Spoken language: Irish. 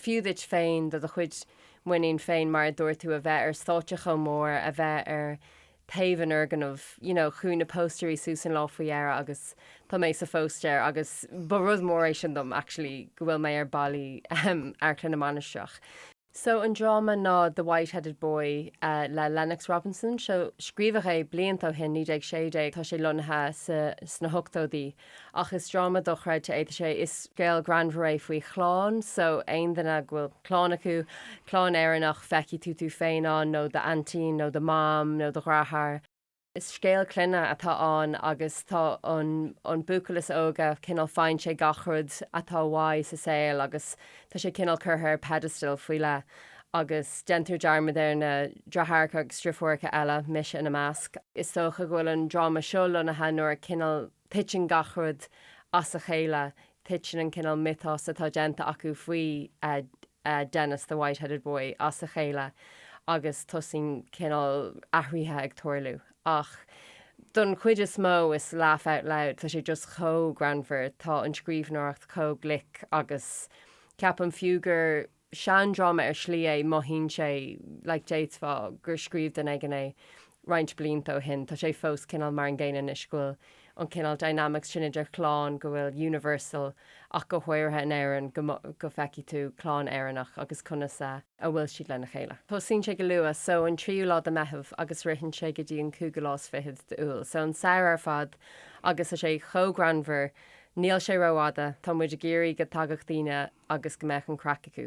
fiú duit féin, do do chuid muinín féin, mar a dúirt tú, a bheith ar stáitse chomh mór, a bheith ar taobh an fhoirgnimh, you know. Chuaigh na póstaerí suas an lá faoi dheireadh agus tá mé sa phóstaer agus ba rud mór é sin dom, actually, go bhfuil mé ar bhallaí, ahem, Amharclann na Mainistreach. So an dráma ná The Whiteheaded Boy le Lennox Robinson. So scríobhadh é blianta ó shin, 1916, tá sé lonnaithe sna hochtóidí. Ach is dráma dochreidte é, tá sé, is scéal greannmhar é faoi chlann, so aon duine go bhfuil clann acu, clann Éireannach, feicfidh tú tú féin ann nó do aintín nó do mham nó do dheartháir. Is scéal clainne atá ann agus tá an an buachaill is óige cineál faigheann sé gach rud atá uaidh sa saol agus tá sé cineál curtha ar pedestal faoi leith. agus déantar dearmad ar na deartháireacha agus na deirfiúracha eile, mise ina measc. Is dócha go bhfuil an dráma seo lonnaithe nuair a cineál titeann gach rud as a chéile, titeann an cineál miotas atá déanta acu faoi Denis the White-Headed Boy as a chéile agus tosaíonn cineál athraithe ag tarlú. Ach don chuid is mó is laugh out loud, tá sé just chomh greannmhar, tá an scríbhneoireacht chomh glic agus ceapaim fiú gur seandráma ar shlí é, mothaíonn sé like déarfá gur scríobh duine éigin é roinnt blianta ó shin, tá sé fós cineál mar an gcéanna anois, go bhfuil an cineál dynamics sin idir chlann, go bhfuil universal ach go háirithe in Éirinn go go feicfidh tú clann Éireannach agus conas a a bhfuil siad lena chéile. Tosaíonn sé go luath, so an tríú lá de Mheitheamh agus ritheann sé go dtí an cúigiú lá is fiche d'Iúil, so an samhradh ar fad agus tá sé chomh greannmhar, níl sé rófhada, tá muid ag iarraidh go dtagfadh daoine agus go mbeadh an craic acu.